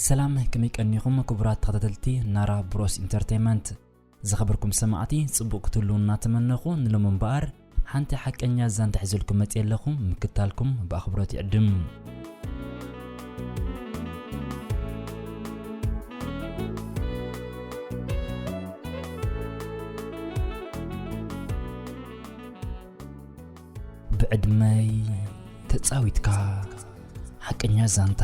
ሰላም ከመይ ቀኒኹም ክቡራት ተኸታተልቲ ናራ ብሮስ ኢንተርቴንመንት ዝኸበርኩም ሰማዕቲ ጽቡቕ ክትህልዉ እናተመነኹ ንሎሚ እምበኣር ሓንቲ ሓቀኛ ዛንታ ሒዘልኩም መጽየ ኣለኹ ምክታልኩም ብኣኽብሮት ይዕድም ብዕድመይ ተጻዊትካ ሓቀኛ ዛንታ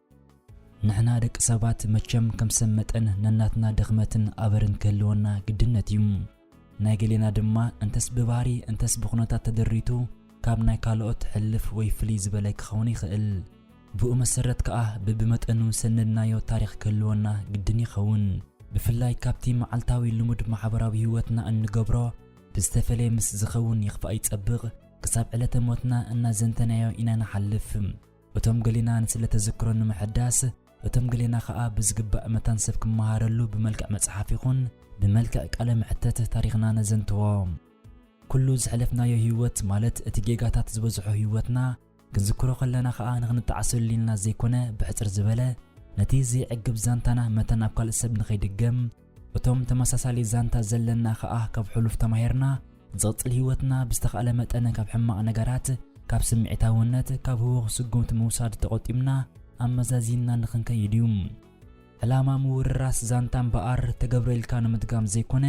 ንሕና ደቂ ሰባት መቸም ከም ሰብ መጠን ነናትና ድኽመትን ኣበርን ክህልወና ግድነት እዩ ናይ ገሌና ድማ እንተስ ብባህሪ እንተስ ብኹነታት ተደሪቱ ካብ ናይ ካልኦት ሕልፍ ወይ ፍልይ ዝበለ ክኸውን ይኽእል ብኡ መሰረት ከኣ ብብመጠኑ ሰነድናዮ ታሪኽ ክህልወና ግድን ይኸውን ብፍላይ ካብቲ መዓልታዊ ልሙድ ማሕበራዊ ህይወትና እንገብሮ ብዝተፈለየ ምስ ዝኸውን ይኽፋእ ይጸብቕ ክሳብ ዕለተ ሞትና እናዘንተናዮ ኢና ንሓልፍ እቶም ገሌና ንስለ ተዘክሮ ንምሕዳስ እቶም ገሌና ከኣ ብዝግባእ መታን ሰብ ክመሃረሉ ብመልክዕ መጽሓፍ ይኹን ብመልክዕ ቃለ መሕተት ታሪኽና ነዘንትዎ። ኩሉ ዝሕለፍናዮ ህይወት ማለት እቲ ጌጋታት ዝበዝሖ ህይወትና ክንዝክሮ ከለና ከኣ ንኽንጣዓሰሉ ኢልና ዘይኮነ ብሕጽር ዝበለ ነቲ ዘይዕግብ ዛንታና መታን ኣብ ካልእ ሰብ ንኸይድገም እቶም ተመሳሳሊ ዛንታ ዘለና ከኣ ካብ ሕሉፍ ተማሂርና ዝቕጽል ህይወትና ብዝተኻእለ መጠን ካብ ሕማቕ ነገራት ካብ ስምዒታውነት ካብ ህውኽ ስጉምቲ ምውሳድ ተቖጢብና ኣመዛዚንና ንኽንከይድ እዩ ዕላማ ምውርራስ ዛንታ እምበኣር ተገብረ ኢልካ ንምድጋም ዘይኮነ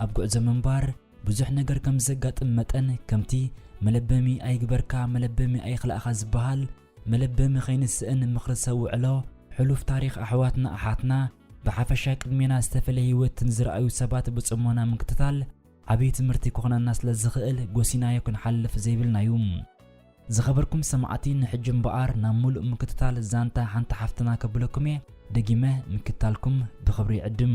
ኣብ ጉዕዞ ምንባር ብዙሕ ነገር ከም ዘጋጥም መጠን ከምቲ መለበሚ ኣይግበርካ መለበሚ ኣይኽላእኻ ዝበሃል ምልብም ኸይንስእን ምኽሪ ሰብ ውዕሎ ሕሉፍ ታሪኽ ኣሕዋትና ኣሓትና ብሓፈሻ ቅድሜና ዝተፈለየ ህይወት ንዝረኣዩ ሰባት ብጽሞና ምክትታል ዓብይ ትምህርቲ ክኾነና ስለ ዝኽእል ጎሲናዮ ክንሓልፍ ዘይብልና እዩ። ዝኸበርኩም ሰማዕቲ ንሕጂ እምበኣር ናብ ምሉእ ምክትታል ዛንታ ሓንቲ ሓፍትና ከብለኩም እየ። ደጊመ ምክትታልኩም ብኽብሪ ይዕድም።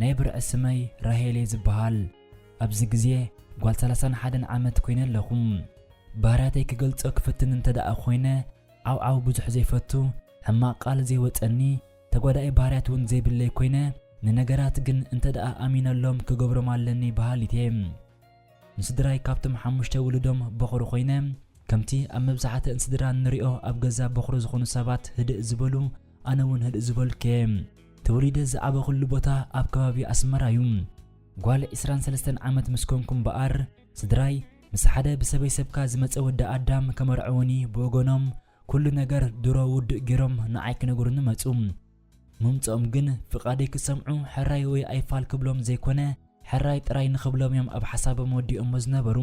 ናይ ብርዒ ስመይ ራሄል እየ ዝብሃል። ኣብዚ ግዜ ጓል ሰላሳን ሓደን ዓመት ኮይነ ኣለኹ። ባህርያተይ ክገልጾ ክፍትን እንተድኣ ኮይነ ዓውዓው ብዙሕ ዘይፈቱ፣ ሕማቕ ቃል ዘይወጸኒ፣ ተጓዳኢ ባህርያት እውን ዘይብለይ ኮይነ ንነገራት ግን እንተድኣ ኣሚነሎም ክገብሮም ኣለኒ ብሃሊት እየ። ንስድራይ ካብቶም ሓሙሽተ ውሉዶም ቦኹሪ ኮይነ ከምቲ ኣብ መብዛሕትእን ስድራ እንሪኦ ኣብ ገዛ ቦኽሪ ዝኾኑ ሰባት ህድእ ዝበሉ ኣነ ውን ህድእ ዝበልኩ እየ። ተወሊደ ዝዓበኹሉ ቦታ ኣብ ከባቢ ኣስመራ እዩ። ጓል ዕስራን ሰለስተን ዓመት ምስ ኮንኩ እምበኣር ስድራይ ምስ ሓደ ብሰበይ ሰብካ ዝመጸ ወዲ ኣዳም ከመርዕዉኒ ብወገኖም ኩሉ ነገር ድሮ ውዱእ ጌሮም ንዓይ ክነግሩኒ መጹ። ምምጽኦም ግን ፍቓደይ ክሰምዑ ሕራይ ወይ ኣይፋል ክብሎም ዘይኮነ ሕራይ ጥራይ ንኽብሎም እዮም ኣብ ሓሳቦም ወዲኦሞ ዝነበሩ።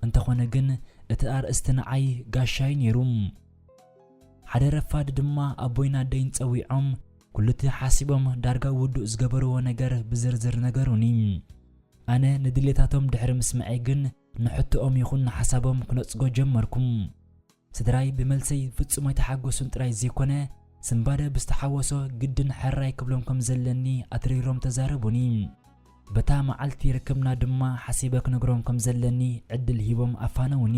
እንተኾነ ግን እቲ ኣርእስቲ ንዓይ ጋሻይ ነይሩ። ሓደ ረፋድ ድማ ኣቦይን ኣደይን ጸዊዖም ኩሉቲ ሓሲቦም ዳርጋ ውዱእ ዝገበርዎ ነገር ብዝርዝር ነገሩኒ። ኣነ ንድሌታቶም ድሕሪ ምስምዐይ ግን ንሕቶኦም ይኹን ንሓሳቦም ክነጽጎ ጀመርኩ። ስድራይ ብመልሰይ ፍጹም ኣይተሓጎሱን ጥራይ ዘይኮነ፣ ስንባደ ብዝተሓወሶ ግድን ሕራይ ክብሎም ከም ዘለኒ ኣትሪሮም ተዛረቡኒ። በታ መዓልቲ ርክብና ድማ ሓሲበ ክነግሮም ከም ዘለኒ ዕድል ሂቦም ኣፋነዉኒ።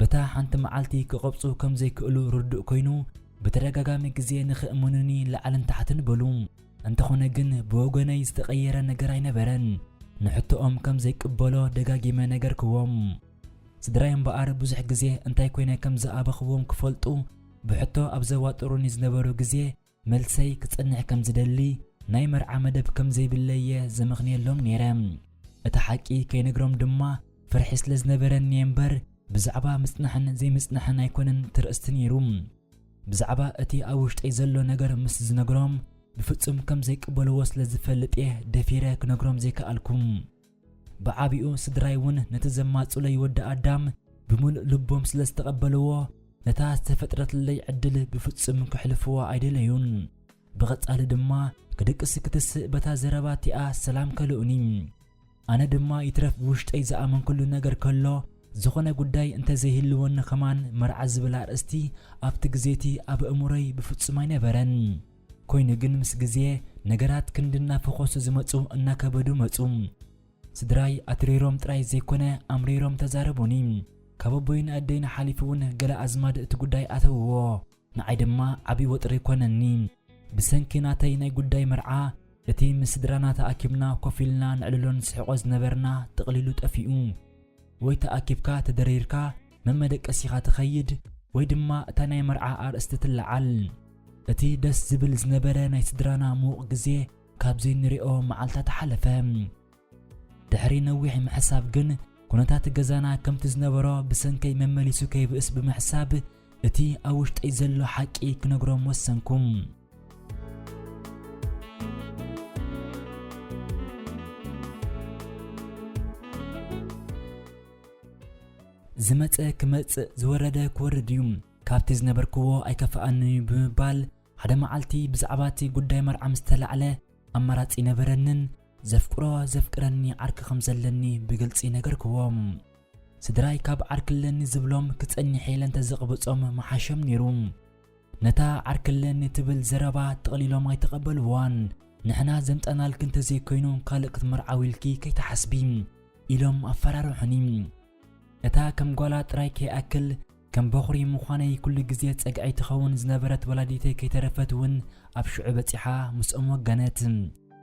በታ ሓንቲ መዓልቲ ክቐብጹ ከም ዘይክእሉ ርዱእ ኮይኑ ብተደጋጋሚ ግዜ ንኽእምኑኒ ላዕልን ታሕትን በሉ። እንተኾነ ግን ብወገነይ ዝተቐየረ ነገር ኣይነበረን። ንሕቶኦም ከም ዘይቅበሎ ደጋጊመ ነገርክዎም። ስድራይ እምበኣር ብዙሕ ግዜ እንታይ ኮይነ ከም ዝኣበኽዎም ክፈልጡ ብሕቶ ኣብ ዘዋጥሩኒ ዝነበሩ ግዜ መልሰይ ክጸንዕ ከም ዝደሊ ናይ መርዓ መደብ ከም ዘይብለይ እየ ዘመኽንየሎም ነይረ። እቲ ሓቂ ከይነግሮም ድማ ፍርሒ ስለ ዝነበረኒ እየ እምበር ብዛዕባ ምጽናሕን ዘይምጽናሕን ኣይኮነን እቲ ርእስቲ ነይሩ። ብዛዕባ እቲ ኣብ ውሽጠይ ዘሎ ነገር ምስ ዝነግሮም ብፍጹም ከም ዘይቅበልዎ ስለ ዝፈልጥ እየ ደፊረ ክነግሮም ዘይከኣልኩ። ብዓቢኡ ስድራይ እውን ነቲ ዘማጽኡለይ ወዲ ኣዳም ብምሉእ ልቦም ስለ ዝተቐበልዎ፣ ነታ ዝተፈጥረትለይ ዕድል ብፍጹም ከሕልፍዋ ኣይደለዩን። ብቐጻሊ ድማ ክድቅስ ክትስእ በታ ዘረባ እቲኣ ሰላም ከልኡኒ። ኣነ ድማ ይትረፍ ብውሽጠይ ዝኣመንክሉ ነገር ከሎ ዝኾነ ጉዳይ እንተ ዘይህልወኒ ከማን መርዓ ዝብል ኣርእስቲ ኣብቲ ግዜ እቲ ኣብ ኣእምሮይ ብፍጹም ኣይነበረን። ኮይኑ ግን ምስ ግዜ ነገራት ክንዲ እናፈኾሱ ዝመጹ እናከበዱ መጹ። ስድራይ ኣትሪሮም ጥራይ ዘይኮነ ኣምሪሮም ተዛረቡኒ። ካብ ኣቦይ ንኣደይን ሓሊፉ እውን ገለ ኣዝማድ እቲ ጉዳይ ኣተውዎ። ንዓይ ድማ ዓቢ ወጥሪ ኮነኒ። ብሰንኪ ናተይ ናይ ጉዳይ መርዓ እቲ ምስ ስድራና ተኣኪብና ኮፍ ኢልና ነዕልሎ ንስሕቆ ዝነበርና ጥቕሊሉ ጠፊኡ። ወይ ተኣኪብካ ተደሪርካ መመደቀሲኻ ትኸይድ ወይ ድማ እታ ናይ መርዓ ኣርእስቲ ትለዓል እቲ ደስ ዝብል ዝነበረ ናይ ስድራና ምዉቕ ግዜ ካብ ዘይንሪኦ መዓልታት ሓለፈ ድሕሪ ነዊሕ ምሕሳብ ግን ኩነታት ገዛና ከምቲ ዝነበሮ ብሰንከይ መመሊሱ ከይብእስ ብምሕሳብ እቲ ኣብ ውሽጠይ ዘሎ ሓቂ ክነግሮም ወሰንኩም ዝመጸ ክመጽእ ዝወረደ ክወርድ እዩ ካብቲ ዝነበርክዎ ኣይከፍኣንን እዩ ብምባል ሓደ መዓልቲ ብዛዕባ እቲ ጉዳይ መርዓ ምስ ተላዕለ ኣማራጺ ይነበረንን ዘፍቅሮ ዘፍቅረኒ ዓርኪ ከም ዘለኒ ብግልጺ ነገርክዎም ስድራይ ካብ ዓርክለኒ ዝብሎም ክጸኒሕ ኢለ እንተዘቕብጾም መሓሸም ነይሩ ነታ ዓርከለኒ ትብል ዘረባ ጥቕሊሎም ኣይተቐበልዋን። ንሕና ዘምጻእናልኪ እንተዘይኮይኑ ካልእ ክትምርዓዊ ኢልኪ ከይትሓስቢ ኢሎም ኣፈራርሑኒ። እታ ከም ጓላ ጥራይ ከይኣክል ከም በዅሪ ምዃነይ ኩሉ ግዜ ጸግዐይ ትኸውን ዝነበረት ወላዲተይ ከይተረፈት እውን ኣብ ሽዑ በጺሓ ምስኦም ወገነት።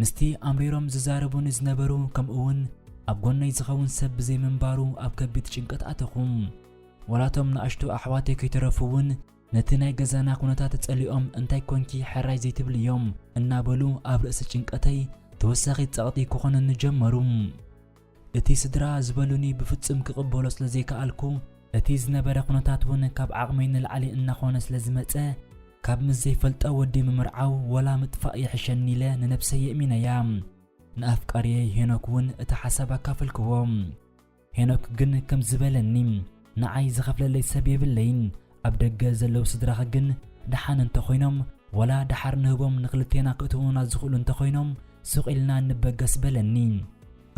ምስቲ ኣምሪሮም ዝዛረቡኒ ዝነበሩ ከምኡውን ኣብ ጎነይ ዝኸውን ሰብ ብዘይምንባሩ ኣብ ከቢድ ጭንቀት ኣተኹ። ዋላቶም ንኣሽቱ ኣሕዋተይ ከይተረፉ እውን ነቲ ናይ ገዛና ኩነታት ጸሊኦም እንታይ ኮንኪ ሕራይ ዘይትብልዮም እናበሉ ኣብ ርእሲ ጭንቀተይ ተወሳኺ ጸቕጢ ክኾኑኒ ጀመሩ። እቲ ስድራ ዝበሉኒ ብፍጹም ክቕበሎ ስለ ዘይከኣልኩ፣ እቲ ዝነበረ ኩነታት ውን ካብ ዓቕመይ ንላዕሊ እናኾነ ስለ ዝመጸ፣ ካብ ምስ ዘይፈልጦ ወዲ ምምርዓው ወላ ምጥፋእ ይሕሸኒ ኢለ ንነብሰይ የእሚነያ። ንኣፍቃሪየይ ሄኖክ ውን እቲ ሓሳብ ኣካፈልክዎ። ሄኖክ ግን ከምዚ በለኒ። ንዓይ ዝኸፍለለይ ሰብ የብለይን ኣብ ደገ ዘለው ስድራኺ ግን ደሓን እንተኾይኖም ወላ ደሓር ንህቦም ንኽልቴና ክእትውና ዝኽእሉ እንተኾይኖም ሱቕ ኢልና ንበገስ በለኒ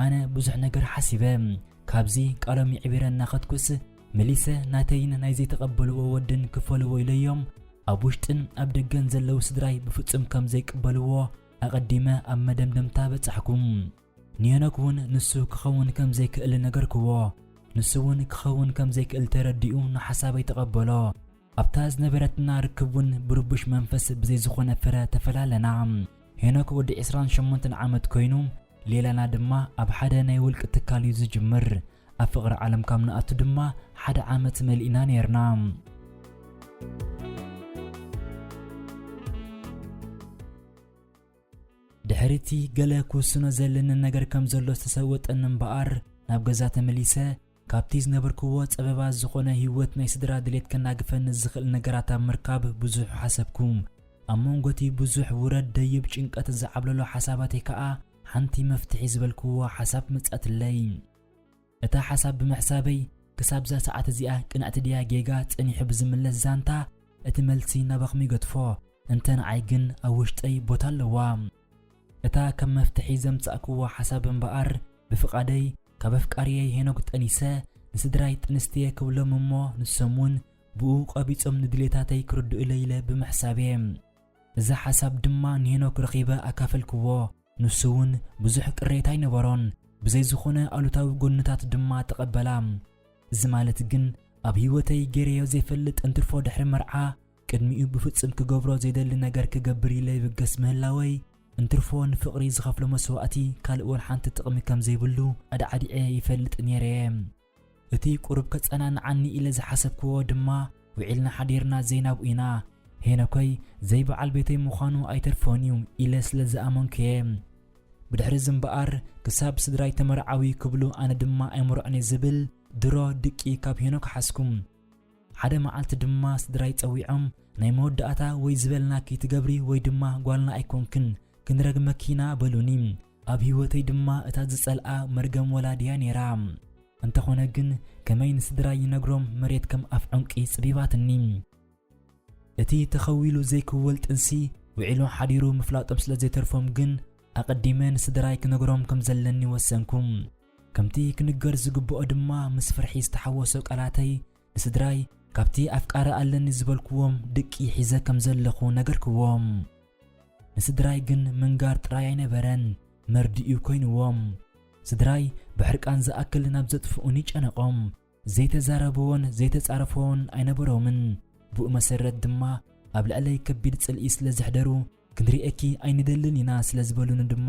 ኣነ ብዙሕ ነገር ሓሲበ ካብዚ ቃሎም ይዕቢረ እናኸትኩስ መሊሰ ናተይን ናይ ዘይተቐበልዎ ወድን ክፈልዎ ኢለዮም ኣብ ውሽጥን ኣብ ደገን ዘለው ስድራይ ብፍጹም ከም ዘይቅበልዎ ኣቐዲመ ኣብ መደምደምታ በጻሕኩ ንሄኖክ እውን ንሱ ክኸውን ከም ዘይክእል ነገርክዎ። ንሱ እውን ክኸውን ከም ዘይክእል ተረዲኡ ንሓሳበይ ተቐበሎ። ኣብታ ዝነበረትና ርክብ እውን ብርቡሽ መንፈስ ብዘይ ዝኾነ ፍረ ተፈላለና። ሄኖክ ወዲ ዕስራን ሸሞንተን ዓመት ኮይኑ ሌላና ድማ ኣብ ሓደ ናይ ውልቂ ትካል እዩ ዝጅምር። ኣብ ፍቕሪ ዓለም ካብ ንኣቱ ድማ ሓደ ዓመት መሊእና ነይርና። ድሕሪቲ ገለ ክውስኖ ዘለኒ ነገር ከም ዘሎ ዝተሰወጠኒ እምበኣር ናብ ገዛ ተመሊሰ ካብቲ ዝነበርክዎ ጸበባ ዝኾነ ህይወት ናይ ስድራ ድሌት ከናግፈኒ ዝኽእል ነገራት ኣብ ምርካብ ብዙሕ ሓሰብኩ ኣብ መንጎቲ ብዙሕ ውረድ ደይብ ጭንቀት ዝዓብለሎ ሓሳባተይ ከኣ ሓንቲ መፍትሒ ዝበልክዎ ሓሳብ መጻትለይ እታ ሓሳብ ብምሕሳበይ ክሳብዛ ሰዓት እዚኣ ቅንዕቲ ድያ ጌጋ ጸኒሑ ብዝምለስ ዛንታ እቲ መልሲ ናባኹም ይገድፎ እንተ ንዓይ ግን ኣብ ውሽጠይ ቦታ ኣለዋ እታ ከም መፍትሒ ዘምጻእክዎ ሓሳብ እምበኣር ብፍቓደይ ካብ ኣፍቃርየይ ሄኖግ ጠኒሰ ንስድራይ ጥንስትየ ክብሎም እሞ ንሶም እውን ብኡ ቐቢጾም ንድሌታተይ ክርድኡለይ ኢለ ብምሕሳብየ እዛ ሓሳብ ድማ ንሄኖክ ረኺበ ኣካፈልክዎ ንሱ እውን ብዙሕ ቅሬታ ኣይነበሮን፣ ብዘይ ዝኾነ ኣሉታዊ ጎንታት ድማ ተቐበላ። እዚ ማለት ግን ኣብ ህይወተይ ገይረዮ ዘይፈልጥ እንትርፎ ድሕሪ መርዓ ቅድሚኡ ብፍጹም ክገብሮ ዘይደሊ ነገር ክገብር ኢለ ይብገስ ምህላወይ እንትርፎ ንፍቕሪ ዝኸፍሎ መስዋእቲ ካልእ ወልሓንቲ ጥቕሚ ከም ዘይብሉ ኣዳዕዲዐ ይፈልጥ ነይረ እየ። እቲ ቁሩብ ከጸናንዓኒ ኢለ ዝሓሰብክዎ ድማ ውዒልና ሓዲርና ዘይናብኡ ኢና። ሄኖከይ ዘይበዓል ቤተይ ምዃኑ ኣይተርፎን'ዩ ኢለ ስለ ዝኣመንኩ'የ። ብድሕሪ'ዚ እምበኣር ክሳብ ስድራይ ተመርዓዊ ክብሉ ኣነ ድማ ኣይምርዖን'የ ዝብል ድሮ ድቂ ካብ ሄኖክ ሓዝኩ። ሓደ መዓልቲ ድማ ስድራይ ጸዊዖም ናይ መወዳእታ ወይ ዝበልናኪ ትገብሪ ወይ ድማ ጓልና ኣይኮንክን ክንረግመኪ ኢና በሉኒ። ኣብ ህይወተይ ድማ እታ ዝጸልኣ መርገም ወላዲ'ያ ነይራ። እንተኾነ ግን ከመይ ንስድራይ ይነግሮም መሬት ከም ኣፍ ዑንቂ ጽቢባትኒ። እቲ ተኸዊሉ ዘይክወል ጥንሲ ውዒሉ ሓዲሩ ምፍላጦም ስለ ዘይተርፎም ግን ኣቐዲመ ንስድራይ ክነግሮም ከም ዘለኒ ወሰንኩ። ከምቲ ክንገር ዝግብኦ ድማ ምስ ፍርሒ ዝተሓወሶ ቃላተይ ንስድራይ ካብቲ ኣፍቃሪ ኣለኒ ዝበልክዎም ድቂ ሒዘ ከም ዘለኹ ነገርክዎም። ንስድራይ ግን ምንጋር ጥራይ ኣይነበረን መርድእዩ ኮይንዎም። ስድራይ ብሕርቃን ዝኣክል ናብ ዘጥፍኡኒ ጨነቖም። ዘይተዛረብዎን ዘይተጻረፍዎን ኣይነበሮምን። ብኡ መሰረት ድማ ኣብ ልዕለይ ከቢድ ጽልኢ ስለ ዘሕደሩ ክንርእየኪ ኣይንደልን ኢና ስለ ዝበሉኒ ድማ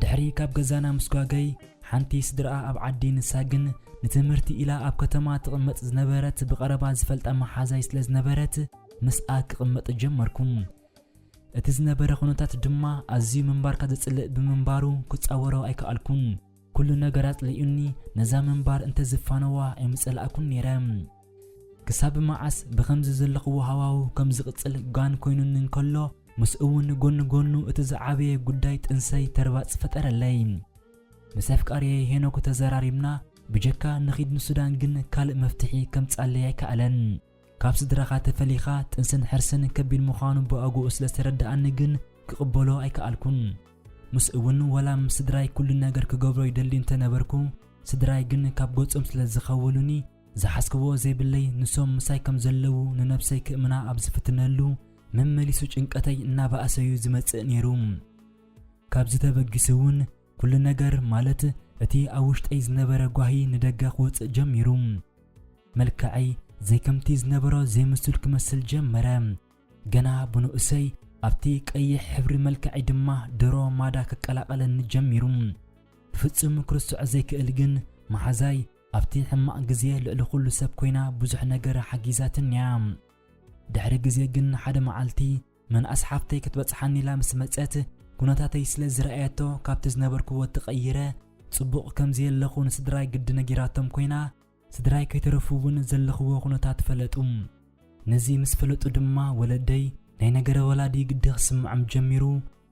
ድሕሪ ካብ ገዛና ምስጓገይ ሓንቲ ስድርኣ ኣብ ዓዲ ንሳ ግን ንትምህርቲ ኢላ ኣብ ከተማ ትቕመጥ ዝነበረት ብቐረባ ዝፈልጣ መሓዛይ ስለ ዝነበረት ምስኣ ክቕመጥ ጀመርኩ እቲ ዝነበረ ኩነታት ድማ ኣዝዩ ምንባርካ ዘጽልእ ብምንባሩ ክጻወሮ ኣይከኣልኩን ኩሉ ነገር ኣጽሊኡኒ ነዛ ምንባር እንተ ዝፋነዋ ኣይምጸላእኩን ነይረ ክሳብ መዓስ ብኸምዚ ዘለኽዎ ሃዋው ከም ዝቕጽል ጋን ኮይኑኒ እንከሎ ምስ እውን ጎኒ ጎኑ እቲ ዝዓበየ ጉዳይ ጥንሰይ ተርባጽ ፈጠረለይ ምስ ኣፍቃርየይ ሄኖክ ተዘራሪብና ብጀካ ንኺድ ንሱዳን ግን ካልእ መፍትሒ ከምጻለይ ኣይከኣለን ካብ ስድራኻ ተፈሊኻ ጥንስን ሕርስን ከቢድ ምዃኑ ብኣግኡ ስለ ዝተረድኣኒ ግን ክቕበሎ ኣይከኣልኩን። ምስ እውን ወላ ምስ ስድራይ ኩሉ ነገር ክገብሮ ይደሊ እንተ ነበርኩ ስድራይ ግን ካብ ገጾም ስለ ዝኸወሉኒ ዝሓስክዎ ዘይብለይ ንሶም ምሳይ ከም ዘለዉ ንነብሰይ ክእምና ኣብ ዝፍትነሉ መመሊሱ ጭንቀተይ እናበኣሰ'ዩ ዝመጽእ ነይሩ። ካብዚ ተበጊሱ እውን ኩሉ ነገር ማለት እቲ ኣብ ውሽጠይ ዝነበረ ጓሂ ንደገ ክወጽእ ጀሚሩ። መልክዐይ ዘይከምቲ ዝነበሮ ዘይምሱል ክመስል ጀመረ። ገና ብንኡሰይ ኣብቲ ቀይሕ ሕብሪ መልክዐይ ድማ ድሮ ማዳ ክቀላቐለኒ ጀሚሩ። ብፍጹም ክርስዖ ዘይክእል ግን መሓዛይ ኣብቲ ሕማቕ ግዜ ልዕሊ ኩሉ ሰብ ኮይና ብዙሕ ነገር ሓጊዛትኒ እያ። ድሕሪ ግዜ ግን ሓደ መዓልቲ መንኣስ ሓፍተይ ክትበጽሓኒ ኢላ ምስ መጸት ኩነታተይ ስለ ዝረኣየቶ ካብቲ ዝነበርክዎ ተቐይረ ጽቡቕ ከም ዘየለኹ ንስድራይ ግዲ ነጊራቶም ኮይና ስድራይ ከይተረፉ እውን ዘለኽዎ ኩነታት ፈለጡ። ነዚ ምስ ፈለጡ ድማ ወለደይ ናይ ነገረ ወላዲ ግዲ ክስምዖም ጀሚሩ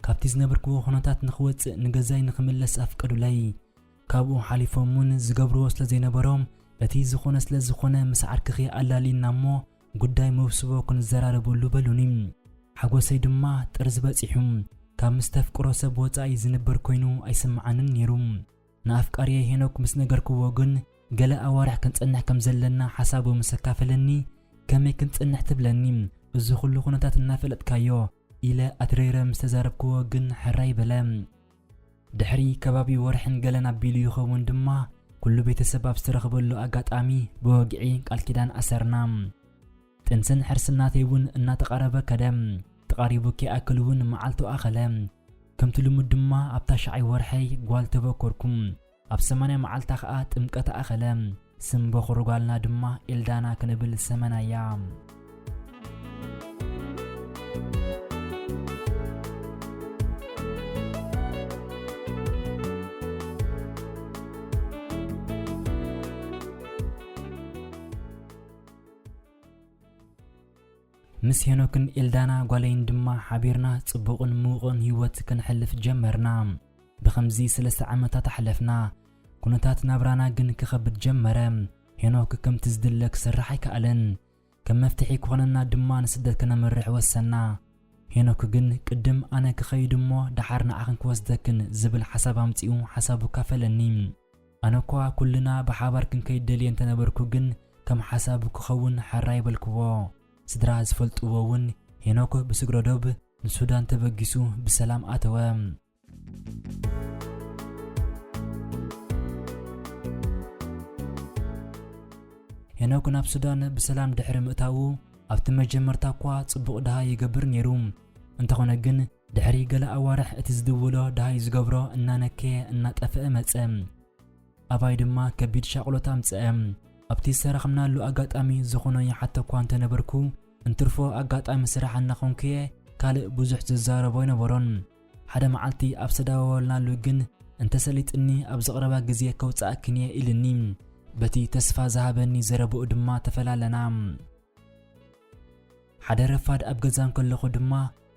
ካብቲ ዝነበርክዎ ኩነታት ንኽወጽእ ንገዛይ ንኽምለስ ኣፍቀዱለይ። ካብኡ ሓሊፎም እውን ዝገብርዎ ስለ ዘይነበሮም እቲ ዝኾነ ስለ ዝኾነ ምስ ዓርክኺ ኣላልይና እሞ ጉዳይ መውስቦ ክንዘራረበሉ በሉኒ። ሓጎሰይ ድማ ጥርዚ በጺሑ ካብ ምስ ተፍቅሮ ሰብ ወጻኢ ዝንበር ኮይኑ ኣይስምዓንን ነይሩ። ንኣፍቃሪየይ ሄኖክ ምስ ነገርክዎ ግን ገለ ኣዋርሕ ክንጸንሕ ከም ዘለና ሓሳቡ ምስ ኣካፈለኒ ከመይ ክንጸንሕ ትብለኒ እዚ ኩሉ ኩነታት እናፈለጥካዮ ኢለ ኣትሪረ ምስ ተዛረብክዎ ግን ሕራይ በለ። ድሕሪ ከባቢ ወርሕን ገለን ኣቢሉ ይኸውን ድማ ኩሉ ቤተሰብ ኣብ ዝተረኽበሉ ኣጋጣሚ ብወግዒ ቃል ኪዳን ኣሰርና። ጥንስን ሕርስን ናተይ እውን እናተቓረበ ከደ። ተቓሪቡ ከይኣክል እውን መዓልቱ ኣኸለ። ከምቲ ልሙድ ድማ ኣብታ ሻዓይ ወርሐይ ጓል ተበኮርኩ። ኣብ ሰማንያ መዓልታ ኸኣ ጥምቀታ ኣኸለ። ስም በዅሪ ጓልና ድማ ኤልዳና ክንብል ሰመናያ። ምስ ሄኖክን ኤልዳና ጓለይን ድማ ሓቢርና ጽቡቕን ምዉቕን ህይወት ክንሕልፍ ጀመርና። ብኸምዚ ስለስተ ዓመታት ኣሕለፍና። ኩነታት ናብራና ግን ክኸብድ ጀመረ። ሄኖክ ከምቲ ዝድለ ክሰርሕ ኣይከኣለን። ከም መፍትሒ ክኾነና ድማ ንስደት ከነምርሕ ወሰንና። ሄኖክ ግን ቅድም ኣነ ክኸይድ እሞ ደሓር ንዓኽን ክወስደክን ዝብል ሓሳብ ኣምጺኡ ሓሳቡ ኣካፈለኒ። ኣነኳ ኩልና ብሓባር ክንከይድ ደልየ እንተነበርኩ ግን ከም ሓሳቡ ክኸውን ሕራይ በልክዎ። ስድራ ዝፈልጥዎ እውን ሄኖክ ብስግረዶብ ንሱዳን ተበጊሱ ብሰላም ኣተወ። ሄኖክ ናብ ሱዳን ብሰላም ድሕሪ ምእታዉ ኣብቲ መጀመርታ እኳ ጽቡቕ ድሃይ ይገብር ነይሩ። እንተኾነ ግን ድሕሪ ገለ ኣዋርሕ እቲ ዝድውሎ ድሃይ ዝገብሮ እናነከየ እናጠፍአ መጸ። ኣባይ ድማ ከቢድ ሻቕሎት ኣምጽአ። ኣብቲ ዝተረኽምናሉ ኣጋጣሚ ዝኾኖ ይሓተኳ እንተነበርኩ እንትርፎ ኣጋጣሚ ስራሕ እናኾንኩ'የ ካልእ ብዙሕ ዝዛረቦ ኣይነበሮን። ሓደ መዓልቲ ኣብ ዝተዳዋወልናሉ ግን እንተሰሊጥኒ ኣብዚ ቕረባ ግዜ ከውጽኣክን'የ ኢሉኒ። በቲ ተስፋ ዝሃበኒ ዘረብኡ ድማ ተፈላለና። ሓደ ረፋድ ኣብ ገዛ እንከለኹ ድማ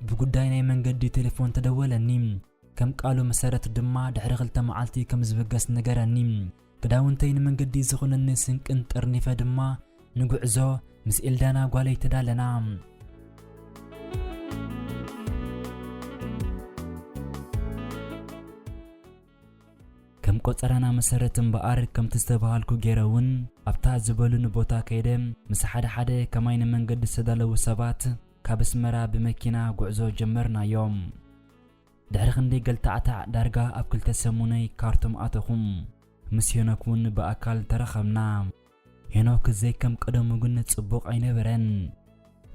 ብጉዳይ ናይ መንገዲ ቴሌፎን ተደወለኒ። ከም ቃሉ መሰረት ድማ ድሕሪ ክልተ መዓልቲ ከም ዝብገስ ነገረኒ። ክዳውንተይ ንመንገዲ ዝኹነኒ ስንቅን ጠርኒፈ ድማ ንጉዕዞ ምስ ኤልዳና ጓለይ ተዳለና። ከም ቆጸራና መሰረት እምበኣር ከምቲ ዝተባሃልኩ ገይረ እውን ኣብታ ዝበሉኒ ቦታ ከይደ ምስ ሓደ ሓደ ከማይ ንመንገዲ ዝተዳለዉ ሰባት ካብ ኣስመራ ብመኪና ጉዕዞ ጀመርናዮም። ድሕሪ ክንደይ ገልታዕታዕ ዳርጋ ኣብ ክልተ ሰሙነይ ካርቱም ኣተኹም ምስ ሄኖክ እውን ብኣካል ተራኸብና ሄኖክ ዘይከም ቀደሙ ግን ጽቡቕ ኣይነበረን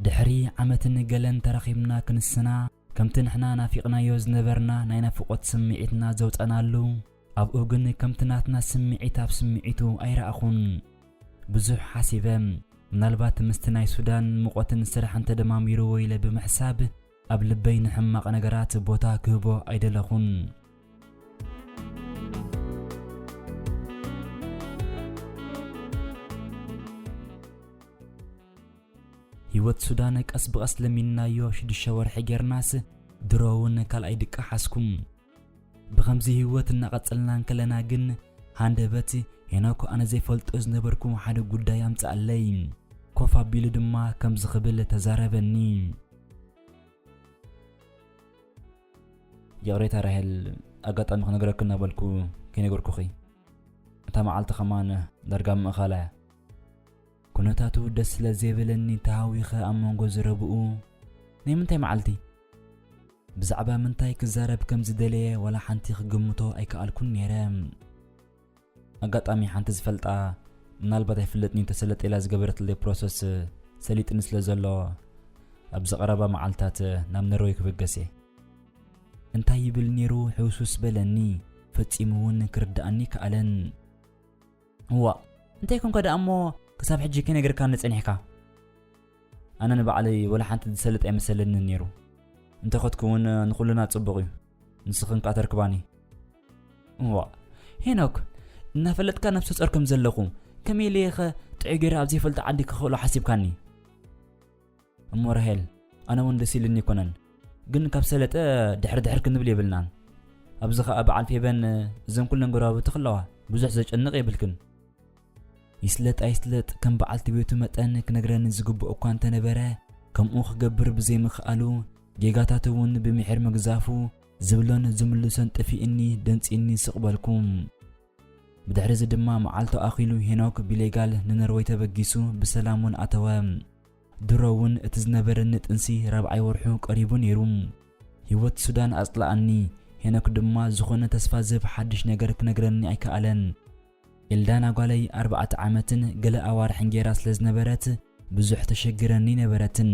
ድሕሪ ዓመትን ገለን ተራኺብና ክንስና ከምቲ ንሕና ናፊቕናዮ ዝነበርና ናይ ናፍቖት ስምዒትና ዘውጸናሉ ኣብኡ ግን ከምቲ ናትና ስምዒት ኣብ ስምዒቱ ኣይረኣኹን ብዙሕ ሓሲበ ምናልባት ምስቲ ናይ ሱዳን ሙቐትን ስራሕን ተደማሚርዎ ኢለ ብምሕሳብ ኣብ ልበይ ንሕማቕ ነገራት ቦታ ክህቦ ኣይደለኹን። ህይወት ሱዳን ቀስ ብቐስ ለሚንናዮ ሽዱሽተ ወርሒ ጌርናስ ድሮ እውን ካልኣይ ድቃ ሓዝኩ። ብኸምዚ ህይወት እናቐጸልና እንከለና ግን ሃንደበት ሄኖክ ኣነ ዘይፈልጦ ዝነበርኩ ሓደ ጉዳይ ኣምጽኣለይ። ኮፍ ኣቢሉ ድማ ከምዚ ክብል ተዛረበኒ። ይቕሬታ ራሄል፣ ኣጋጣሚ ክነግረኪ እናበልኩ ከይነገርኩኺ እታ መዓልቲ ከማን ዳርጋ ምእኻላ እያ። ኩነታቱ ደስ ስለ ዘይበለኒ ተሃዊኸ ኣብ መንጎ ዝረብኡ ናይ ምንታይ መዓልቲ ብዛዕባ ምንታይ ክዛረብ ከም ዝደለየ ዋላ ሓንቲ ክግምቶ ኣይከኣልኩን ነይረ ኣጋጣሚ ሓንቲ ዝፈልጣ ምናልባት ኣይፍለጥኒ ተሰለጥ ኢላ ዝገበረትለይ ፕሮሰስ ሰሊጥኒ ስለ ዘሎ ኣብዚ ቀረባ መዓልትታት ናብ ነርወይ ክብገስ እየ እንታይ ይብል ነይሩ ሕውስውስ በለኒ ፈጺሙ እውን ክርድኣኒ ከኣለን እዋእ እንታይ ኮንካ ደኣ እሞ ክሳብ ሕጂ ከይነገርካኒ ጸኒሕካ? ኣነ ንባዕለይ ወላ ሓንቲ ዝሰልጥ ኣይመሰለንን ነይሩ። እንተኸትኩ እውን ንኹልና ጽቡቕ እዩ። ንስኽን ከኣ ተርክባኒ። እዋእ ሄኖክ እናፈለጥካ ነብሰ ጾር ከም ዘለኹ ከመይ ኢለይኸ ጥዑይ ገይረ ኣብ ዘይፈልጦ ዓዲ ክኽእሎ ሓሲብካኒ? እሞ ራሄል ኣነ ውን ደስ ኢልኒ ኣይኮነን ግን ካብ ሰለጠ ድሕር ድሕር ክንብል የብልናን ኣብዚ ከኣ በዓል ፌበን እዘን ኩለን ጎረባብቲ ክለዋ ብዙሕ ዘጨንቕ የብልክን ይስለጥ ኣይስለጥ ከም በዓልቲ ቤቱ መጠን ክነግረኒ ዝግብኦ እኳ እንተነበረ ከምኡ ክገብር ብዘይምክኣሉ ጌጋታት እውን ብምሒር ምግዛፉ ዝብሎን ዝምልሶን ጥፊእኒ ደንፂኒ ስቕበልኩም ብድሕሪዚ ድማ መዓልቱ ኣኺሉ ሄኖክ ብሌጋል ንነርወይ ተበጊሱ ብሰላም ውን ኣተወ። ድሮ ውን እቲ ዝነበረኒ ጥንሲ ራብዓይ ወርሑ ቀሪቡ ነይሩ። ህይወት ሱዳን ኣጽለኣኒ፣ ሄኖክ ድማ ዝኾነ ተስፋ ዝህብ ሓድሽ ነገር ክነግረኒ ኣይከኣለን። ኤልዳና ጓለይ ኣርባዕተ ዓመትን ገለ ኣዋርሕን ጌራ ስለ ዝነበረት ብዙሕ ተሸግረኒ ነበረትን።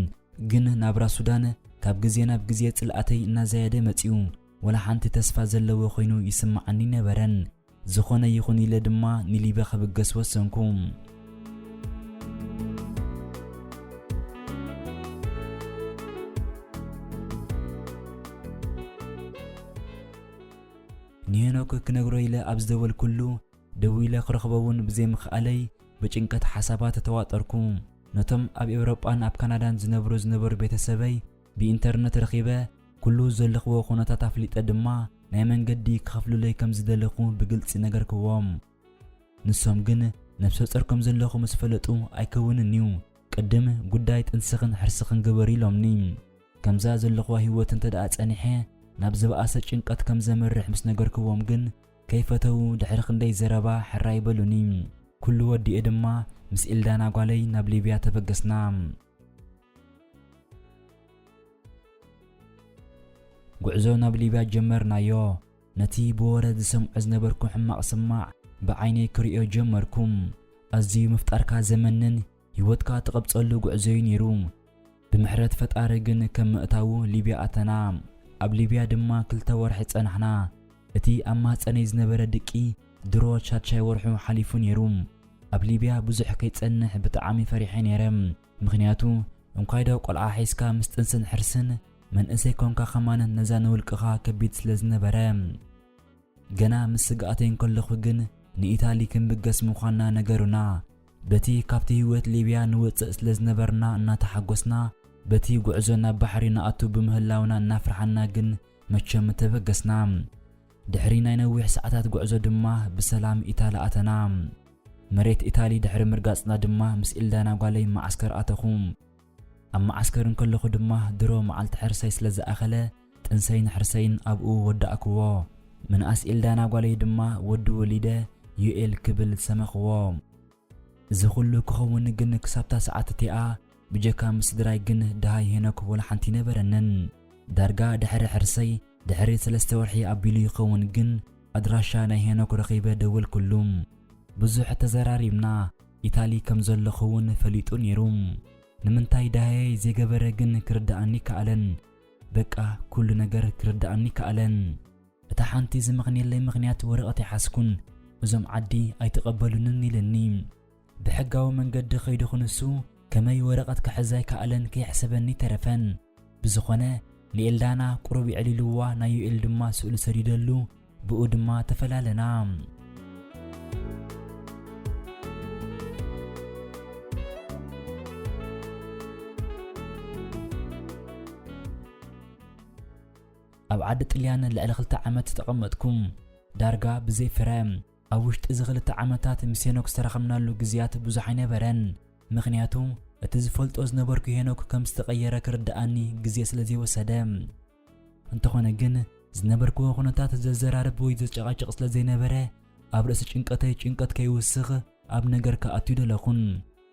ግን ናብራ ሱዳን ካብ ግዜ ናብ ግዜ ጽልኣተይ እናዛየደ መጺኡ። ወላ ሓንቲ ተስፋ ዘለዎ ኮይኑ ይስምዓኒ ኣይነበረን። ዝኾነ ይኹን ኢለ ድማ ንሊበ ክብገስ ወሰንኩ። ንሄኖክ ክነግሮ ኢለ ኣብ ዝደወልኩሉ ደው ኢለ ክረኽቦ እውን ብዘይምኽኣለይ ብጭንቀት ሓሳባት ተዋጠርኩ። ነቶም ኣብ ኤውሮጳን ኣብ ካናዳን ዝነብሩ ዝነበሩ ቤተሰበይ ብኢንተርነት ረኺበ ኩሉ ዘለኽዎ ኩነታት ኣፍሊጠ ድማ ናይ መንገዲ ክኸፍሉለይ ከም ዝደለኹ ብግልጺ ነገርክዎም። ንሶም ግን ነብሰ ጾር ከም ዘለኹ ምስ ፈለጡ ኣይከውንን እዩ ቅድም ጉዳይ ጥንስኽን ሕርስኽን ግበሪ ኢሎምኒ። ከምዛ ዘለኽዋ ህይወት እንተደኣ ጸኒሐ ናብ ዝበኣሰ ጭንቀት ከም ዘምርሕ ምስ ነገርክዎም ግን ከይፈተዉ ድሕሪ ክንደይ ዘረባ ሕራይ በሉኒ። ኩሉ ወዲኤ ድማ ምስ ኤልዳና ጓለይ ናብ ሊብያ ተበገስና። ጉዕዞ ናብ ሊብያ ጀመርናዮ። ነቲ ብወረ ዝሰምዖ ዝነበርኩ ሕማቕ ስማዕ ብዓይነይ ክርእዮ ጀመርኩ። ኣዝዩ ምፍጣርካ ዘመንን ህይወትካ ትቐብጸሉ ጉዕዞዩ ነይሩ። ብምሕረት ፈጣሪ ግን ከም ምእታዉ ሊብያ ኣተና። ኣብ ሊብያ ድማ ክልተ ወርሒ ጸናሕና። እቲ ኣብ ማህጸነይ ዝነበረ ድቂ ድሮ ሻድሻይ ወርሑ ሓሊፉ ኔሩ። ኣብ ሊብያ ብዙሕ ከይጸንሕ ብጣዓሚ ፈሪሐ ኔረ ምኽንያቱ እንኳይዶ ቆልዓ ሒዝካ ምስ ጥንስን ሕርስን መንእሰይ ኮንካ ከማን ነዛ ንውልቅኻ ከቢድ ስለ ዝነበረ። ገና ምስ ስግኣተይ እንከለኹ ግን ንኢታሊ ክንብገስ ምዃንና ነገሩና። በቲ ካብቲ ሂወት ሊብያ ንወጽእ ስለ ዝነበርና እናተሓጎስና በቲ ጉዕዞ ናብ ባሕሪ ንኣቱ ብምህላውና እናፍርሓና ግን መቸም ተበገስና። ድሕሪ ናይ ነዊሕ ሰዓታት ጉዕዞ ድማ ብሰላም ኢታሊ ኣተና። መሬት ኢታሊ ድሕሪ ምርጋጽና ድማ ምስ ኢልዳና ጓለይ መዓስከር ኣተኹ። ኣብ መዓስከር እንከለኹ ድማ ድሮ መዓልቲ ሕርሰይ ስለ ዝኣኸለ ጥንሰይን ሕርሰይን ኣብኡ ወዳእክዎ። ምንኣስ ኢልዳና ጓለይ ድማ ወዲ ወሊደ ዩኤል ክብል ሰመኽዎ። እዚ ኩሉ ክኸውን ግን ክሳብታ ሰዓት እቲኣ ብጀካ ምስ ስድራይ ግን ደሃይ ሄኖክ ወላ ሓንቲ ኣይነበረንን። ዳርጋ ድሕሪ ሕርሰይ ድሕሪ ሰለስተ ወርሒ ኣቢሉ ይኸውን ግን ኣድራሻ ናይ ሄኖክ ረኺበ ደወልኩሉ። ብዙሕ ተዘራሪብና ኢታሊ ከም ዘለኹ እውን ፈሊጡ ነይሩ። ንምንታይ ደሃየይ ዘይገበረ ግን ክርደኣኒ ከኣለን። በቃ ኩሉ ነገር ክርደኣኒ ከኣለን። እታ ሓንቲ ዝምኽንየለይ ምኽንያት ወረቐት ኣይሓዝኩን፣ እዞም ዓዲ ኣይተቐበሉንን ኢለኒ። ብሕጋዊ መንገዲ ከይዱ ክንሱ ከመይ ወረቐት ክሕዝ ኣይከኣለን ከየሕሰበኒ ተረፈን። ብዝኾነ ንኤልዳና ቁሩብ የዕሊሉዋ ናይ ዩኤል ድማ ስእሉ ሰዲደሉ ብኡ ድማ ተፈላለና። ኣብ ዓዲ ጥልያን ልዕሊ ክልተ ዓመት ዝተቐመጥኩ፣ ዳርጋ ብዘይ ፍረ። ኣብ ውሽጢ እዚ ክልተ ዓመታት ምስ ሄኖክ ዝተራኸብናሉ ግዝያት ብዙሕ ኣይነበረን፣ ምኽንያቱ እቲ ዝፈልጦ ዝነበርኩ ሄኖክ ከም ዝተቐየረ ክርድኣኒ ግዜ ስለ ዘይወሰደ። እንተኾነ ግን ዝነበርክዎ ኩነታት ዘዘራርብ ወይ ዘጨቓጭቕ ስለ ዘይነበረ፣ ኣብ ርእሲ ጭንቀተይ ጭንቀት ከይውስኽ ኣብ ነገር ክኣቱ ኣይደለኹን፣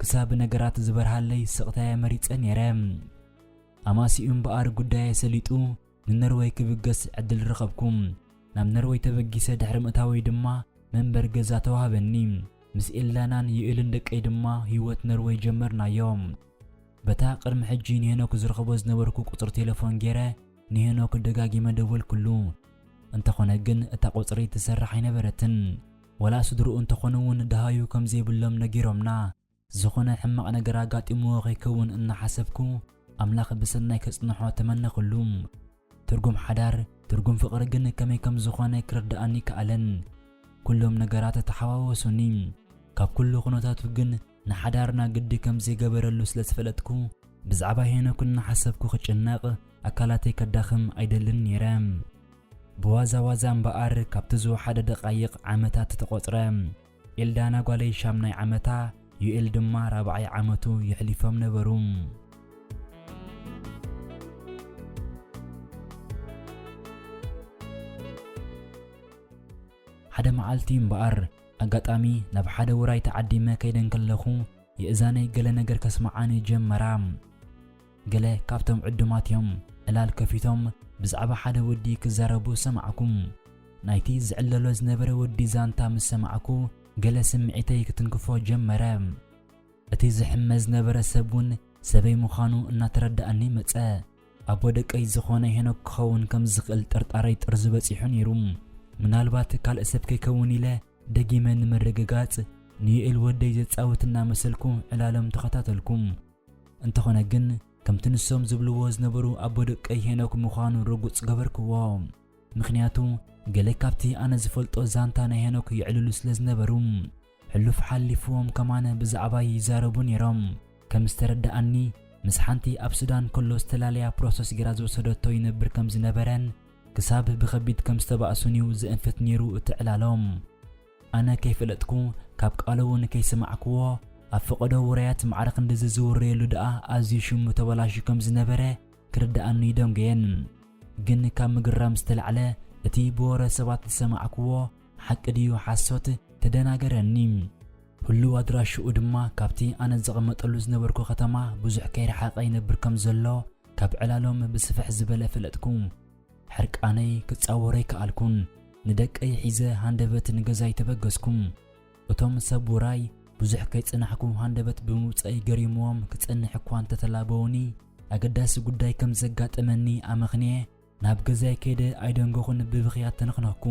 ክሳብ ነገራት ዝበርሃለይ ስቕታየ መሪጸ ነይረ። ኣማስይኡ እምበኣር ጉዳየይ ሰሊጡ ንኖርወይ ክብገስ ዕድል ረኸብኩ። ናብ ኖርወይ ተበጊሰ ድሕሪ ምእታወይ ድማ መንበሪ ገዛ ተዋህበኒ። ምስ ኤልዳናን ዩኤልን ደቀይ ድማ ህይወት ኖርወይ ጀመርናዮ። በታ ቅድሚ ሕጂ ንሄኖክ ዝረኽቦ ዝነበርኩ ቁጽሪ ቴለፎን ገይረ ንሄኖክ ደጋጊመ ደወልኩሉ። እንተኾነ ግን እታ ቁጽሪ ትሰርሕ ኣይነበረትን። ወላ ስድርኡ እንተኾኑ እውን ደሃዩ ከም ዘይብሎም ነጊሮምና ዝኾነ ሕማቕ ነገር ኣጋጢምዎ ከይከውን እናሓሰብኩ ኣምላኽ ብሰናይ ከጽንሖ ተመነኹሉ። ትርጉም ሓዳር፣ ትርጉም ፍቕሪ ግን ከመይ ከም ዝኾነ ክርድኣኒ ኣይከኣለን። ኩሎም ነገራት ተሓዋወሱኒ። ካብ ኩሉ ኩነታቱ ግን ንሓዳርና ግዲ ከም ዘይገበረሉ ስለ ዝፈለጥኩ ብዛዕባ ሄኖክ እናሓሰብኩ ክጭነቕ ኣካላተይ ከዳኽም ኣይደልን ነይረ። ብዋዛ ዋዛ እምበኣር ካብቲ ዝወሓደ ደቓይቕ ዓመታት ተቖጽረ። ኤልዳና ጓለይ ሻምናይ ዓመታ፣ ዩኤል ድማ ራብዓይ ዓመቱ የሕሊፎም ነበሩ። ሓደ መዓልቲ እምበኣር ኣጋጣሚ ናብ ሓደ ውራይ ተዓዲመ ከይደ እንከለኹ የእዛነይ ገለ ነገር ከስምዓኒ ጀመራ። ገለ ካብቶም ዕዱማት እዮም ዕላል ከፊቶም ብዛዕባ ሓደ ወዲ ክዛረቡ ሰማዕኩ። ናይቲ ዝዕለሎ ዝነበረ ወዲ ዛንታ ምስ ሰማዕኩ ገለ ስምዒተይ ክትንክፎ ጀመረ። እቲ ዝሕመ ዝነበረ ሰብ እውን ሰበይ ምዃኑ እናተረድኣኒ መጸ። ኣቦ ደቀይ ዝኾነ ሄኖክ ክኸውን ከም ዝኽእል ጥርጣረይ ጥርዙ በጺሑ ነይሩ። ምናልባት ካልእ ሰብ ከይከውን ኢለ ደጊመ ንምርግጋጽ ንዩኤል ወደይ ዘጻውት እናመሰልኩ ዕላሎም ተኸታተልኩ። እንተኾነ ግን ከምቲ ንሶም ዝብልዎ ዝነበሩ ኣቦ ደቀይ ሄኖክ ምዃኑ ርጉጽ ገበርክዎ። ምኽንያቱ ገለ ካብቲ ኣነ ዝፈልጦ ዛንታ ናይ ሄኖክ የዕልሉ ስለ ዝነበሩ ሕሉፍ ሓሊፍዎም ከማን ብዛዕባይ ይዛረቡ ነይሮም። ከም ዝተረደኣኒ ምስ ሓንቲ ኣብ ሱዳን ከሎ ዝተላለያ ፕሮሰስ ጌራ ዝወሰደቶ ይነብር ከም ዝነበረን ክሳብ ብኸቢድ ከም ዝተባእሱን'ዩ ዘእንፍት ነይሩ እቲ ዕላሎም። ኣነ ከይፈለጥኩ ካብ ቃሉ እውን ከይሰማዕክዎ ኣብ ፈቐዶ ውራያት ማዕረ ክንድዚ ዝውረየሉ ደኣ ኣዝዩ ሽሙ ተበላሽዩ ከም ዝነበረ ክርደኣኒ ይደንጎየን። ግን ካብ ምግራም ዝተላዕለ እቲ ብወረ ሰባት ዝሰማዕክዎ ሓቂ ድዩ ሓሶት ተደናገረኒ። ህሉው ኣድራሽኡ ድማ ካብቲ ኣነ ዝቕመጠሉ ዝነበርኩ ከተማ ብዙሕ ከይረሓቐ ይነብር ከም ዘሎ ካብ ዕላሎም ብስፍሕ ዝበለ ፈለጥኩ። ሕርቃነይ ክጻወር ኣይከኣልኩን። ንደቀይ ሒዘ ሃንደበት ንገዛይ ተበገስኩ። እቶም ሰብ ውራይ ብዙሕ ከይጸናሕኩ ሃንደበት ብምውጻእይ ገሪሙዎም ክጸንሕ እኳ እንተ ተላበወኒ፣ ኣገዳሲ ጉዳይ ከም ዘጋጠመኒ ኣመኽንየ ናብ ገዛይ ከይደ ኣይደንጎኹን ብብኽያት ተነኽነኽኩ።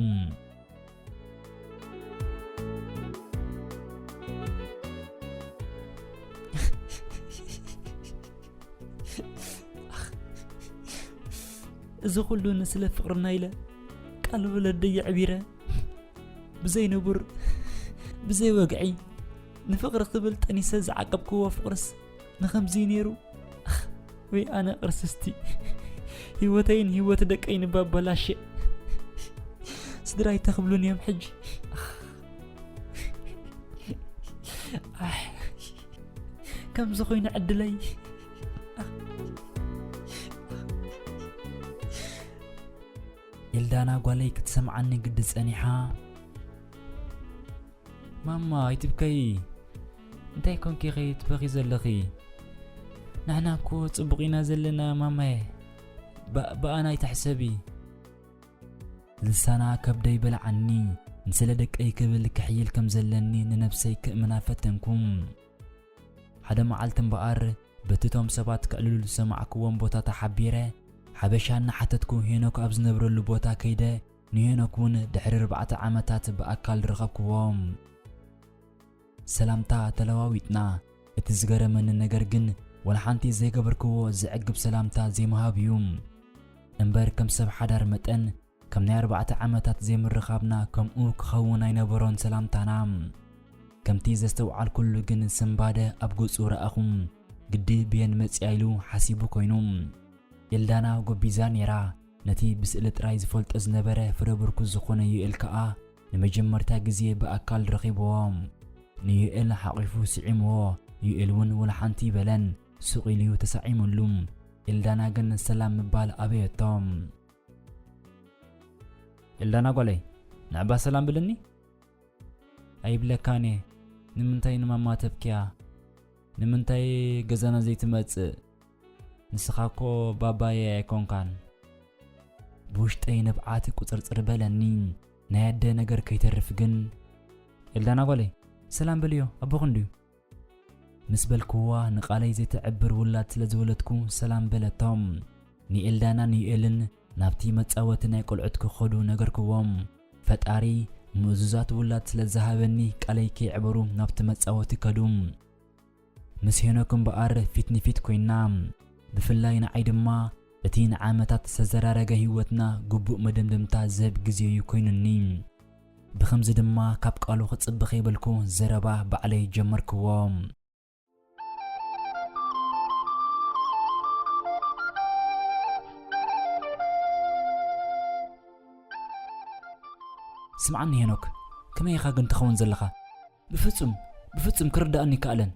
እዚ ኩሉ ንስለ ፍቅርና ኢለ ቃል ወለደይ ኣዕቢረ ብዘይ ንቡር ብዘይ ወግዒ ንፍቅሪ ክብል ጠኒሰ ዝዓቀብክዎ ፍቅርስ ንኸምዚ ነይሩ ወይ ኣነ ቅርስስቲ ህይወተይን ህይወት ደቀይን እባ በላሸ ስድራይ ተኽብሉን እዮም ሕጂ ከምዚ ኮይኑ ዕድለይ ኤልዳና ጓለይ ክትሰምዓኒ ግዲ ጸኒሓ ማማ ኣይትብከዪ እንታይ ኮንኪ ኸ ትበኺ ዘለኺ ንሕና እኮ ጽቡቕ ኢና ዘለና ማማየ ብኣና ኣይትሕሰቢ ልሳና ከብደይ በልዓኒ ንስለ ደቀይ ክብል ክሕይል ከም ዘለኒ ንነብሰይ ክእምና ፈተንኩም ሓደ መዓልቲ እምበኣር በቲ እቶም ሰባት ክዕልሉ ዝሰማዕክዎም ቦታ ተሓቢረ ሓበሻ እናሓተትኩ ሄኖክ ኣብ ዝነብረሉ ቦታ ከይደ ንሄኖክ ውን ድሕሪ ኣርባዕተ ዓመታት ብኣካል ረኸብክዎ። ሰላምታ ተለዋዊጥና፣ እቲ ዝገረመኒ ነገር ግን ወላ ሓንቲ ዘይገበርክዎ ዘዕግብ ሰላምታ ዘይምሃብ እዩ። እምበር ከም ሰብ ሓዳር መጠን ከም ናይ ኣርባዕተ ዓመታት ዘይምርኻብና ከምኡ ክኸውን ኣይነበሮን ሰላምታና። ከምቲ ዘስተውዓልኩሉ ግን ስንባደ ኣብ ገጹ ረኣኹ። ግዲ ብየን መጺኣ ኢሉ ሓሲቡ ኮይኑ። ኤልዳና ጎቢዛ ኔራ። ነቲ ብስእሊ ጥራይ ዝፈልጦ ዝነበረ ፍረ ብርኩስ ዝኾነ ዩኤል ከኣ ንመጀመርታ ግዜ ብኣካል ረኺብዎ። ንዩኤል ሓቚፉ ስዒምዎ፣ ዩኤል እውን ወላ ሓንቲ ኣይበለን፣ ሱቕ ኢሉ'ዩ ተሳዒሙሉ። ኤልዳና ግን ሰላም ምባል ኣበየቶ። ኤልዳና ጓለይ ንዕባ ሰላም ብልኒ። ኣይብለካን እየ። ንምንታይ ንማማ ተብክያ? ንምንታይ ገዛና ዘይትመጽእ? ንስኻ እኮ ባባየይ ኣይኮንካን። ብውሽጠይ ንብዓት ቁጽርጽር በለኒ፣ ናይ ኣደ ነገር ከይተርፍ ግን። ኤልዳና ጓለይ፣ ሰላም በልዮ፣ ኣቦኺ እንድዩ። ምስ በልክዋ ንቓለይ ዘይተዕብር ውላድ ስለ ዝወለድኩ ሰላም በለቶ። ንኤልዳናን ዩኤልን ናብቲ መጻወቲ ናይ ቆልዑት ክኸዱ ነገርክዎም። ፈጣሪ ምእዙዛት ውላድ ስለ ዝሃበኒ ቃለይ ከየዕበሩ ናብቲ መጻወቲ ከዱ። ምስ ሄኖክ እምበኣር ፊት ንፊት ኮይና፣ ብፍላይ ንዓይ ድማ እቲ ንዓመታት ዝተዘራረገ ህይወትና ግቡእ መደምደምታ ዝህብ ግዜ'ዩ ኮይኑኒ። ብኸምዚ ድማ ካብ ቃሉ ክጽበ ከይበልኩ ዘረባ ባዕለይ ጀመርክዎ። ስምዓኒ ሄኖክ፣ ከመይ ኢኻ ግን ትኸውን ዘለኻ? ብፍጹም ብፍጹም ክርድኣኒ ኣይከኣለን።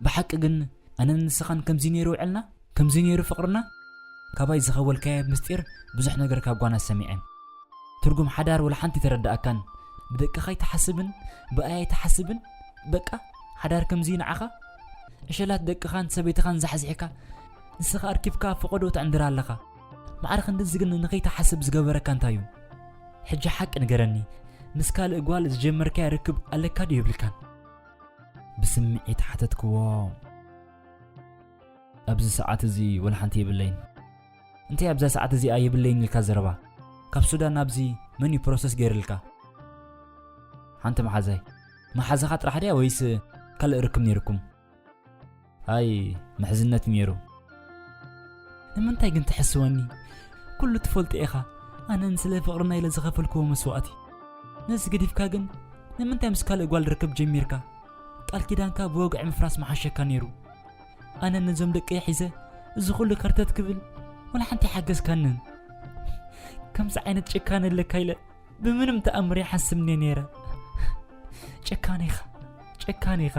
ብሓቂ ግን ኣነን ንስኻን ከምዚ ነይሩ ውዕልና? ከምዚ ነይሩ ፍቕርና? ካባይ ዝኸወልካዮ ምስጢር ብዙሕ ነገር ካብ ጓና ሰሚዐ። ትርጉም ሓዳር ወላ ሓንቲ ተረድኣካን። ብደቅኻ ኣይትሓስብን፣ ብኣይ ኣይትሓስብን። በቃ ሓዳር ከምዚ እዩ ንዓኻ? ዕሸላት ደቅኻን ሰበይትኻን ዛሕዚሕካ ንስኻ ኣርኪብካ ኣብ ፈቐድኡ ትዕንድር ኣለኻ። ማዕረ ክንድዚ ግን ንኸይትሓስብ ዝገበረካ እንታይ እዩ ሕጂ ሓቂ ንገረኒ ምስ ካልእ ጓል ዝጀመርካዮ ርክብ ኣለካ ድዩ የብልካን ብስምዒት ሓተትክዎ ኣብዚ ሰዓት እዚ ወላ ሓንቲ የብለይን እንታይ ኣብዛ ሰዓት እዚኣ የብለይን ኢልካ ዘረባ ካብ ሱዳን ናብዚ መን እዩ ፕሮሰስ ገይርልካ ሓንቲ መሓዛይ መሓዛኻ ጥራሕ ድያ ወይስ ካልእ ርክብ ነይርኩም ኣይ ምሕዝነት ሜሩ ንምንታይ ግን ትሕስወኒ ኩሉ ትፈልጦ ኢኻ ኣነን ስለ ፍቕርና ኢለ ዝኸፈልክዎ መስዋእቲ ነዚ ገዲፍካ ግን ንምንታይ ምስ ካልእ ጓል ርክብ ጀሚርካ ቃል ኪዳንካ ብወግዒ ምፍራስ መሓሸካ ነይሩ ኣነ ነዞም ደቂ ሒዘ እዚ ኩሉ ከርተት ክብል ወላ ሓንቲ ሓገዝካንን ከምዚ ዓይነት ጭካነ ኣለካ ኢለ ብምንም ተኣምር ይሓስብኒ ነይረ ጨካን ኢኻ ጨካን ኢኻ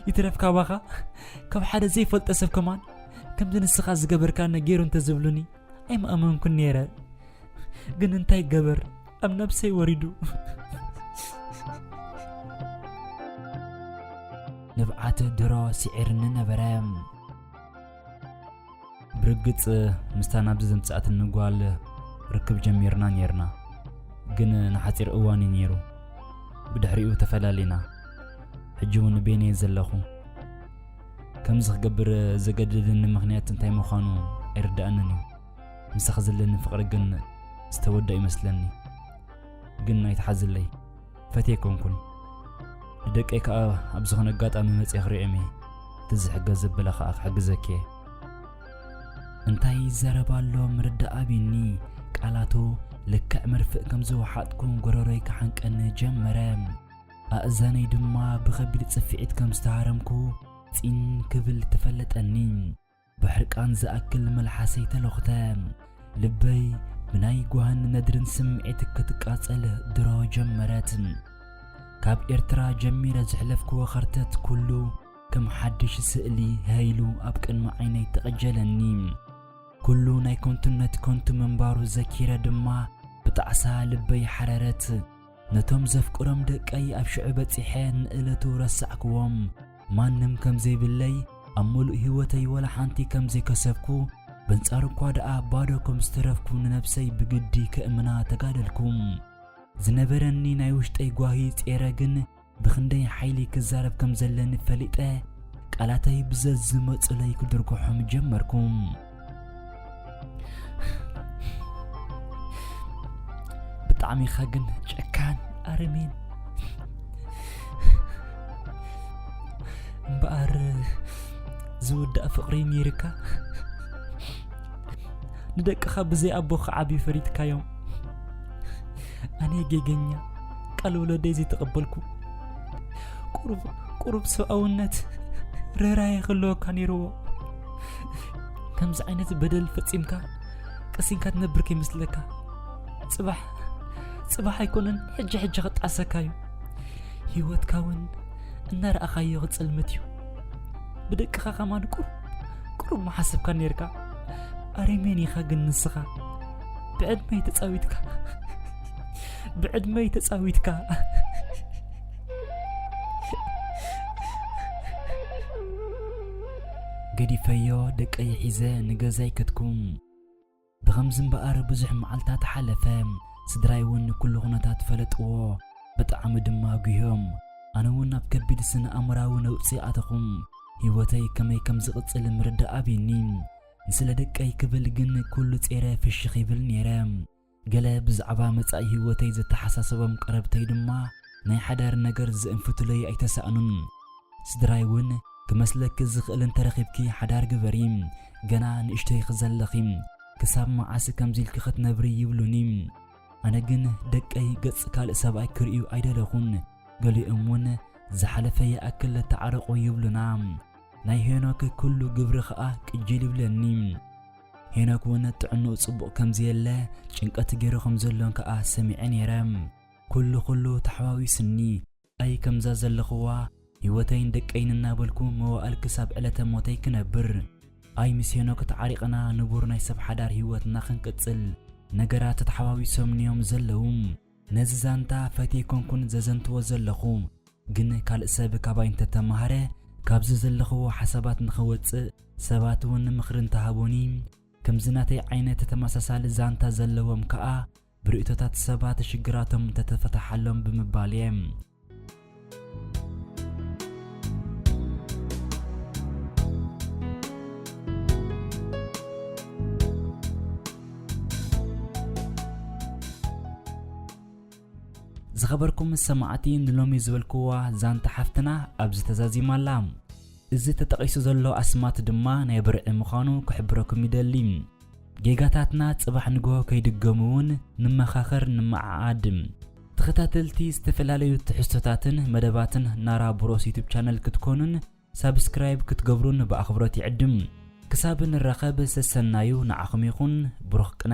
ይትረፍ ካባኻ ካብ ሓደ ዘይፈልጠ ሰብ ከማን ከምዚ ንስኻ ዝገበርካኒ ገይሩ እንተዝብሉኒ ኣይምኣመንኩን ነይረ ግን እንታይ ገበር ኣብ ነብሰይ ወሪዱ ንብዓት ድሮ ስዒርኒ ነበረ ብርግጽ ምስታ ናብዚ ዘምጽኣትኒ ጓል ርክብ ጀሚርና ነይርና ግን ንሓጺር እዋን እዩ ነይሩ ብድሕሪኡ ተፈላሊና ሕጂ እውን ቤነ ዘለኹ ከምዚ ክገብር ዘገድድኒ ምክንያት እንታይ ምዃኑ ኣይርዳእንን እዩ ምሳኺ ዘለኒ ፍቕሪ ግን ዝተወድኦ ይመስለኒ ግን ኣይትሓዝለይ ፈትየ ኮንኩን ንደቀይ ከዓ ኣብ ዝኾነ ኣጋጣሚ መፅየ ክሪኦም እየ ትዝሕገ ዘበለ ከዓ ክሕግዘኪ እየ እንታይ ይዘረብ ኣሎ ምርዳእ ኣቢኒ ቃላቱ ልክዕ መርፍእ ከም ዝወሓጥኩ ጎረሮይ ክሓንቀኒ ጀመረ ኣእዛነይ ድማ ብኸቢድ ፅፍዒት ከም ዝተሃረምኩ ፂን ክብል ተፈለጠኒ ብሕርቃን ዝኣክል መልሓሰይ ተሎኽተ። ልበይ ብናይ ጓህን ነድርን ስምዒት ክትቃጸል ድሮ ጀመረት። ካብ ኤርትራ ጀሚረ ዝሕለፍክዎ ኸርተት ኩሉ ከም ሓድሽ ስእሊ ሀይሉ ኣብ ቅድሚ ዓይነይ ተቐጀለኒ። ኩሉ ናይ ከንቱነት ከንቱ ምንባሩ ዘኪረ ድማ ብጣዕሳ ልበይ ሓረረት። ነቶም ዘፍቅሮም ደቀይ ኣብ ሽዑ በጺሐ ንእለቱ ረሳዕክዎም። ማንም ከም ዘይብለይ፣ ኣብ ምሉእ ህይወተይ ወላ ሓንቲ ከም ዘይከሰብኩ፣ በንጻሩ እኳ ደኣ ባዶ ከም ዝተረፍኩ ንነብሰይ ብግዲ ከእምና ተጋደልኩ። ዝነበረኒ ናይ ውሽጠይ ጓሂ ጼረ ግን፣ ብኽንደይ ሓይሊ ክዛረብ ከም ዘለኒ ፈሊጠ ቃላተይ ብዘዝመፁለይ ክድርግሖም ጀመርኩ ብጣዕሚ ኢኻ ግን ጨካን ኣረሜን እምበኣር ዝውዳእ ፍቕሪ ነይርካ ንደቅኻ ብዘይ ኣቦ ክዓብዩ ፈሪድካዮም ኣነ ጌገኛ ቃል ወለደይ ዘይተቐበልኩ ቁሩብ ሰብኣውነት ርኅራኄ ክህልወካ ነይርዎ ከምዚ ዓይነት በደል ፈጺምካ ቀሲንካ ትነብር ከይመስለካ ጽባሕ ጽባሕ ኣይኮነን ሕጂ ሕጂ ክጣሰካ እዩ ህይወትካ እውን እናረኣኻዮ ክጸልመት እዩ ብደቅኻ ከማን ቁሩብ ቁሩብ መሓሰብካ ነርካ ኣሬሜን ኢኻ ግን ንስኻ ብዕድመይ ተጻዊትካ ብዕድመይ ተጻዊትካ ገዲፈዮ ደቀይ ሒዘ ንገዛይ ከትኩም ብኸምዚ እምበኣር ብዙሕ መዓልታት ሓለፈ ስድራይ እውን ኩሉ ኩነታት ፈለጥዎ ብጣዕሚ ድማ ጉህዮም ኣነ እውን ኣብ ከቢድ ስነ ኣእምራዊ ነውፂ ኣተኹም ህይወተይ ከመይ ከም ዝቕፅል ምርዳእ ኣብኒ ንስለ ደቀይ ክብል ግን ኩሉ ጼረ ፍሽኽ ይብል ነይረ ገለ ብዛዕባ መጻኢ ህይወተይ ዘተሓሳሰቦም ቀረብተይ ድማ ናይ ሓዳር ነገር ዝእንፍቱለይ ኣይተሳእኑን። ስድራይ እውን ክመስለኪ ዝኽእል እንተረኺብኪ ሓዳር ግበሪ፣ ገና ንእሽቶይ ኢኺ ዘለኺ፣ ክሳብ መዓስ ከምዚ ኢልኪ ክትነብሪ ይብሉኒ። ኣነ ግን ደቀይ ገጽ ካልእ ሰብኣይ ክርእዩ ኣይደለኹን፣ ገሊኦም እውን ዝሓለፈ ይኣክል ተዓረቑ ይብሉና። ናይ ሄኖክ ኩሉ ግብሪ ከኣ ቅጅል ይብለኒ። ሄኖክ እውን ጥዕንኡ ጽቡቕ ከም ዘየለ ጭንቀት ገይሩ ከም ዘሎን ከኣ ሰሚዐ ነይረ። ኩሉ ኩሉ ተሓዋዊስኒ ኣይ ከምዛ ዘለኹዋ ህይወተይን ደቀይን እናበልኩ መዋእል ክሳብ ዕለተ ሞተይ ክነብር ኣይ ምስ ሄኖክ ተዓሪቕና ንቡር ናይ ሰብ ሓዳር ህይወትና ክንቅጽል ነገራት ተተሓዋዊሶምኒዮም ዘለዉ። ነዚ ዛንታ ፈትየ ኣይኮንኩን ዘዘንትዎ ዘለኹ፣ ግን ካልእ ሰብ ካባይ እንተተማህረ ካብዚ ዘለኽዎ ሓሳባት ንኽወጽእ ሰባት ውን ምኽሪ እንተሃቡኒ፣ ከምዚ ናተይ ዓይነት ተመሳሳሊ ዛንታ ዘለዎም ከኣ ብርእይቶታት ሰባት ሽግራቶም እንተተፈተሓሎም ብምባል'የ። ዝኸበርኩም ሰማዕቲ ንሎሚ ዝበልክዋ ዛንታ ሓፍትና ኣብዚ ተዛዚማ ኣላ እዚ ተጠቒሱ ዘሎ ኣስማት ድማ ናይ ብርዒ ምዃኑ ክሕብረኩም ይደሊ ጌጋታትና ጽባሕ ንግሆ ከይድገሙ እውን ንመኻኸር ንመዓዓድ ተኸታተልቲ ዝተፈላለዩ ትሕዝቶታትን መደባትን ናራ ብሮስ ዩቱብ ቻነል ክትኮኑን ሳብስክራይብ ክትገብሩን ብኣኽብሮት ይዕድም። ክሳብ ንራኸብ ሰሰናዩ ንዓኹም ይኹን ብሩኽ ቅነ።